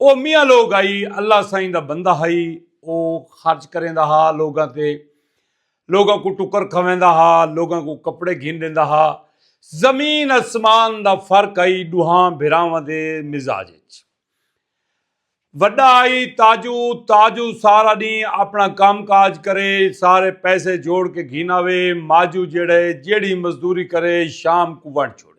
او میاں لوگ ہئی اللہ سائیں دا بندہ ہئی او خرچ کریندا ہا لوگاں تے لوگاں کو ٹکر کھویندا ہا لوگاں کو کپڑے گھن دیندا ہا زمین اسمان دا فرق ہئی ڈوہاں بھراواں دے مزاج وچ وڈا ہئی تاجو تاجو سارا ڈی اپنا کام کاج کرے سارے پیسے جوڑ کے گھن آوے ماجو جیڑے جیڑی مزدوری کرے شام کو ونڈ چھوڑے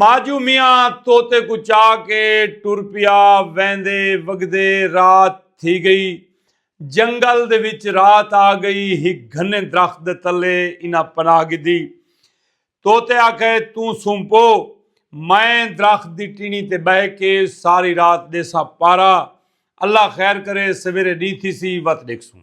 ماجو میاں توتے کو چا کے ٹر پیا ویندے وگدے رات تھی گئی جنگل دے وچ رات آ گئی ہک گھنے درخت دے تلے انہاں پناہ گدی توتے آکھے توں سمپو میں درخت دی ٹینی تے بہ کے ساری رات دیسا پارا اللہ خیر کرے سویرے ڈی تھی سی وت ڈیکھ سوں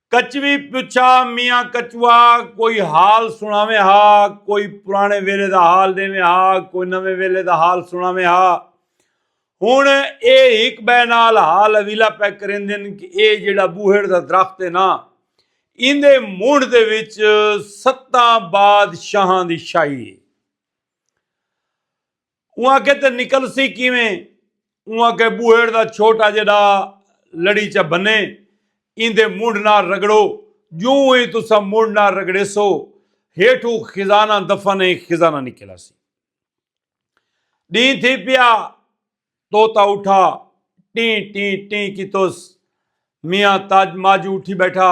کچوی پچھا میاں کچوا کوئی حال سناویں ہا کوئی پرانے ویلے دا حال ڈیویں ہا کوئی نویں ویلے دا حال سناویں ہا ہن اے ہک بے نال حال اویلا پہ کریندن کہ اے جیڑا بوہڑ دا درخت ہے نا ایندے مونڈ دے وچ ستاں بادشاہاں دی شاہی ہے اوں آکھے تے نکلسی کیویں؟ اوں آکھے بوہیڑ دا چھوٹا جیڈا لڑیچہ بھنے ایندے منڈھ نال رگڑو جوں ای تساں منڈھ نال رگڑیسو ہیٹھو خزانہ دفن اے خزانہ نکل آسی۔ ڈینہہ تھی پیا طوطا اٹھا ٹیں ٹیں ٹیں کیتوس میاں تاج ماجو اٹھی بیٹھا۔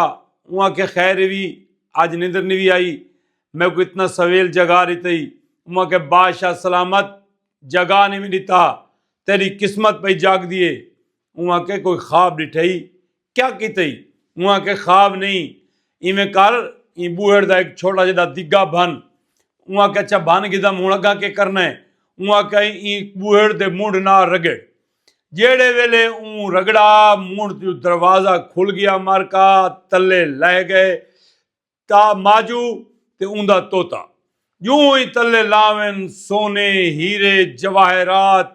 اوں آکھیا خیر ایوی اج نندر نیوی آئی۔ میکوں اتنا سویل جگا ڈتئی۔ اوں آکھیا بادشاہ سلامت جگا نیوی ڈتا۔ تیڈی قسمت پئی جاگدی اے۔ اوں آکھیا کوئی خواب ڈٹھئی۔ کیا کیتئی؟ اوں آکھیا خواب نئیں۔ ایویں کر ایں بوہڑ دا ہک چھوٹا جڈا دگا بھن۔ اوں آکھیا اچھا بھن گھدم ہن اگاں کے کرنا اے؟ اوں آکھیا ایں بوہڑ دے منڈھ نال رگڑ۔ جیڑھے ویلے اوں رگڑا مونڑھ تیوں دروازہ کھل گیا مر کا تلے لہہ گئے تا ماجو تے اوندا توتا جوں ہی تلے لاون سونے ہیرے جواہرات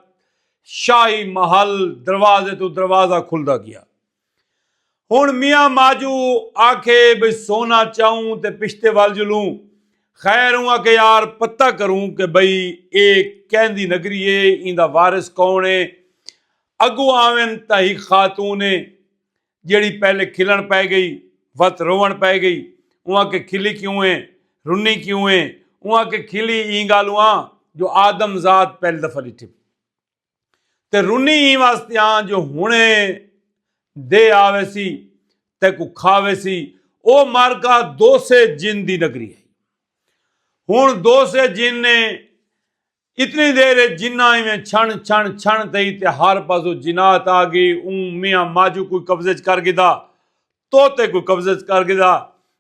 شاہی محل دروازے تو دروازہ کھلدا گیا ہن میاں ماجو آکھے بھئی سونا چاؤں تے پشتے ول جلوں خیر اوں آکھے یار پتہ کروں کہ بھئی اے کیندی نگری اے ایندا وارث کون اے اگو آون تاں ہک خاتون اے جیڑی پہلے کھلن پے گئی وت روون پے گئی اوں آکھے کھلی کیوں اے رنی کیوں اے اوں آکھے کھلی ایں گالوں آں جو آدم ذات پہلی دفعہ ڈٹھے تے رنی ایں واسطے آں جو ہنے دے آوے سی تے کو کھاوے سی او مارکا دو سے جن دی نگری ہے ہن دو سے جن نے اتنی دیر جنہ ایویں چھن چھن چھن تئی تے ہر پاسو جنات آ گئی اون میاں ماجو کوئی قبضے کر گدا توتے کوں قبضے اچ کر گھدا۔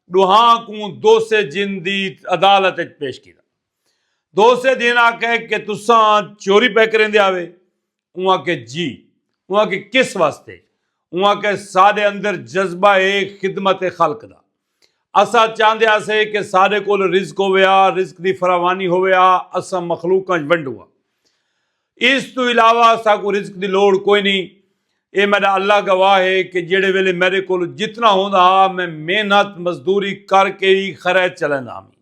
ڈوہاں کوں دوسے جن دی عدالت اچ پیش کیتا۔ دوسے جن آکھے کہ تساں چوری پئے کریندے آوے؟ اوں آکھے جی۔ اوں آکھے کس واسطے؟ اوں آکھے ساڈے اندر جذبہ اے خدمت خلق دا۔ اساں چاہندے ہاسے کہ ساڈے کول رزق ہووے ہا، رزق دی فراوانی ہووے ہا، اساں مخلوقاں اچ ونڈوں ہا۔ اس توں علاوہ اساکوں رزق دی لوڑھ کوئی نئیں۔ اے میڈا اللہ گواہ ہے کہ جیڑھے ویلے میڈے کولھ جتنا ہوندا ہا میں محنت مزدوری کر کے ای خیرات چلیندا ہامی۔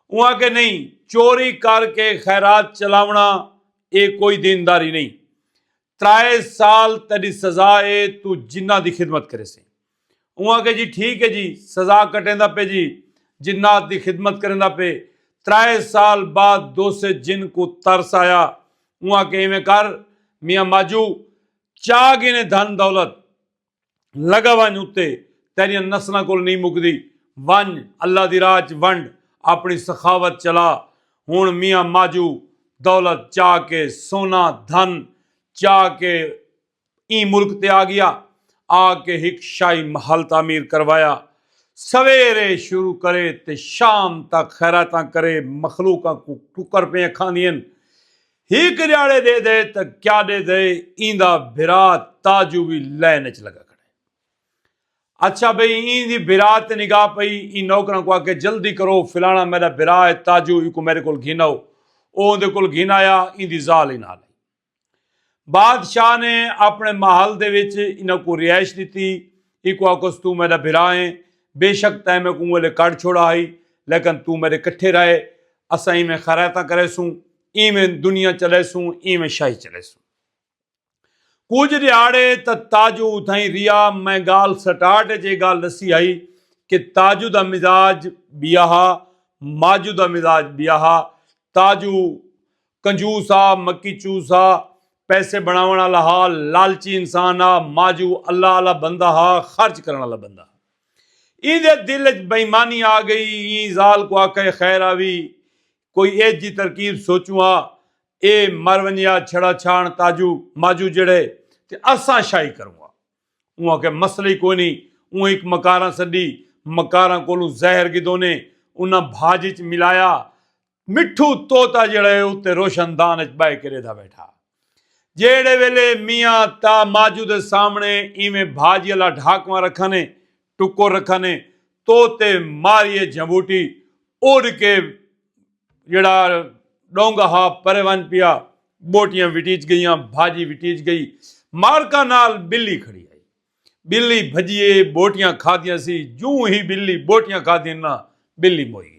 اونہاں کے نئیں چوری کر کے خیرات چلاونڑاں اے کوئی دینداری نئیں۔ ترائے سال تیڈی سزا اے توں جناں دی خدمت کریسیں۔ اوں آکھیا جی ٹھیک ہے جی سزا کٹیندا پے جی جنات دی خدمت کریندا پے ترائے سال بعد دوسے جن کوں ترس آیا اوں آکھیا ایویں کر میاں ماجو چا گھنے دھن دولت لگا ونج اتے تیریاں نسلاں کول نہیں مکدی ونج اللہ دی راہ چ ونڈ اپنی سخاوت چلا ہن میاں ماجو دولت چا کے سونا دھن چا کے ایں ملک تے آ گیا آ کے ہک شاہی محل تعمیر کروایا سویرے شروع کرے تے شام تک خیراتاں کرے مخلوقاں کوں ٹکر پئیں اکھاندین ہک ڈیاڑے ڈے دے تے کیاڈے دے ایندا بھرا تاجو وی لین اچ لگا کھڑے اچھا بھئی ایں دی بھرا تے نگاہ پئی ایں نوکراں کوں آکھے جلدی کرو فلانا میڈا بھرا ہے تاجو ایکوں میڈے کول گھن آؤ او اوندے کول گھن آیا ایندی زال ہی نال ہئی بادشاہ نے اپنے محل دے وچ انہاں کو رہائش دیتی ایکو آکس تو میرا بھرا ہے بے شک تائیں میں کوں ویلے کڑ چھوڑا ہی لیکن تو میرے کٹھے رہے اساں ہی میں خرائتاں کرے سوں ای میں دنیا چلے سوں ای میں شاہی چلے سوں کچھ دیاڑے تا تاجو اتھائیں ریا میں گال سٹارٹ جے گال لسی ہائی کہ تاجو دا مزاج بیاہا ماجو دا مزاج بیاہا تاجو کنجوس ہا، مکی چوس ہا، پیسے بݨاوݨ آلا ہا، لالچی انسان ہا، ماجو اللہ آلا بندہ ہا، خرچ کرݨ آلا بندہ ہا۔ ایندے دل اچ بے ایمانی آ گئی، ایں ذال کوں آکھئے خیر آوی، کوئی ایجھ جی ترکیب سوچوں ہا، اے مر ونڄے ہا، چھڑا چھاݨ تاجو، ماجو جڑئے تے اساں شاہی کروں ہا۔ اوں آکھئے مسئلہ ای کوئی نئیں، اوں ہک مکاراں سݙی، مکاراں کولوں زہر گھدونے، انہاں بھاڄ اچ ملایا مٹھو طوطا جیڑا ہے اتے روشن دان اچ بائے کے ریدھا بیٹھا جیڑے ویلے میاں تا ماجو دے سامنے ایویں بھاجی اللہ ڈھاکواں رکھنے ٹکو رکھنے طوطے ماریے جھموٹی اڑ کے جیڑا ڈونگا ہا پرے ون پیا بوٹیاں وٹیچ گئیاں بھاجی وٹیچ گئی مارکا نال بلی کھڑی آئی بلی بھجیے بوٹیاں کھا دیا سی جوں ہی بلی بوٹیاں کھا دینا بلی موئی گئی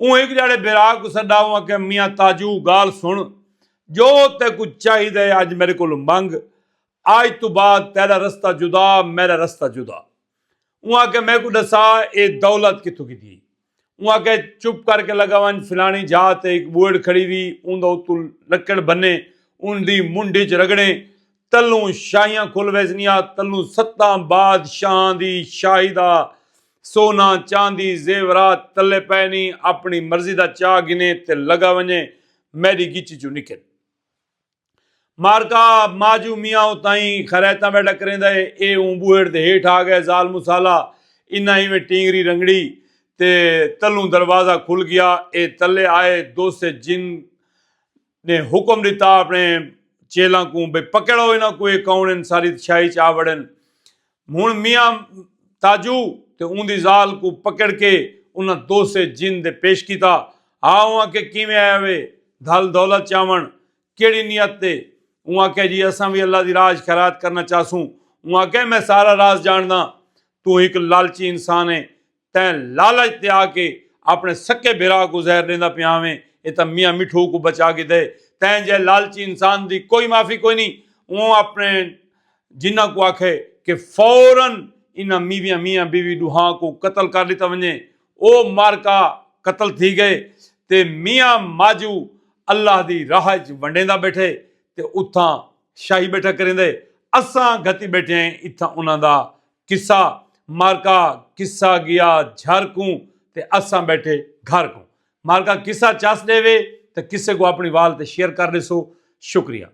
اوں ہک جاڑے بھرا کوں سڈا اوں آکھیا میاں تاجو گال سن جو تے کوں چاہی دے اج میرے کولوں منگ اج توں بعد تیڈا رستہ جدا میرا رستہ جدا اوں آکھیا میکوں ڈسا اے دولت کتھوں گھدی اوں آکھیا چپ کر کے لگا ونج فلانی جھا تے ہک بوئڑ کھڑی وی اوندا اتوں لکڑ بھنے اون دی منڈھ اچ رگڑیں تلوں شاہیاں کھل ویسنیاں تلوں ستاں بادشاہاں دی شاہی دا سونا چاندی زیورات تلے پئے نی اپنی مرضی دا چا گھنے تے لگا ونجے میڈی گچی چوں نکل مارکا ماجو میاں اتائیں خریتاں ویڈا کریندہ اے اے اوں بوہڑ دے ہیٹھ آ گئے زال مسالہ انہاں ایویں ٹینگری رنگڑی تے تلوں دروازہ کھل گیا اے تلے آئے دوسے جن نے حکم ڈتا اپنے چیلاں کوں بھئی پکڑو انہاں کوں اے کون ہن ساری تشاہی چ آ وڑن ہن میاں تاجو تے اوندی ذال کوں پکڑ کے انہاں دوسے جن دے پیش کیتا ہا اوں آکھیا کیویں آیا وے دھل دولت چاون کیڑی نیت تے اوں آکھیا جی اساں وی اللہ دی راہ چ خیرات کرنا چاہسوں اوں آکھیا میں سارا راز جانڑداں توں ہک لالچی انسان ہیں تیں لالچ تے آ کے اپنے سکے بھرا کوں زہر ڈیندا پیاں ویں اے تاں میاں مٹھو کوں بچا گھدے تیں جے لالچی انسان دی کوئی معافی کوئی نی اوں اپنے جناں کوں آکھے کہ فورا انہاں میویاں میاں بیوی ڈوہاں کوں قتل کر ڈتا ونجے او معرکہ قتل تھی گئے تے میاں ماجو اللہ دی راہ اچ ونڈیندا بیٹھے تے اتھاں شاہی بیٹھا کریندے اساں گھتی بیٹھے ہیں اتھاں انہاں دا قصہ مارکا قصہ گیا جھر کوں تے اساں بیٹھے گھر کوں مارکا قصہ چس ڈے وے تے قصے کو اپنی وال تے شیئر کر ڈیسو شکریہ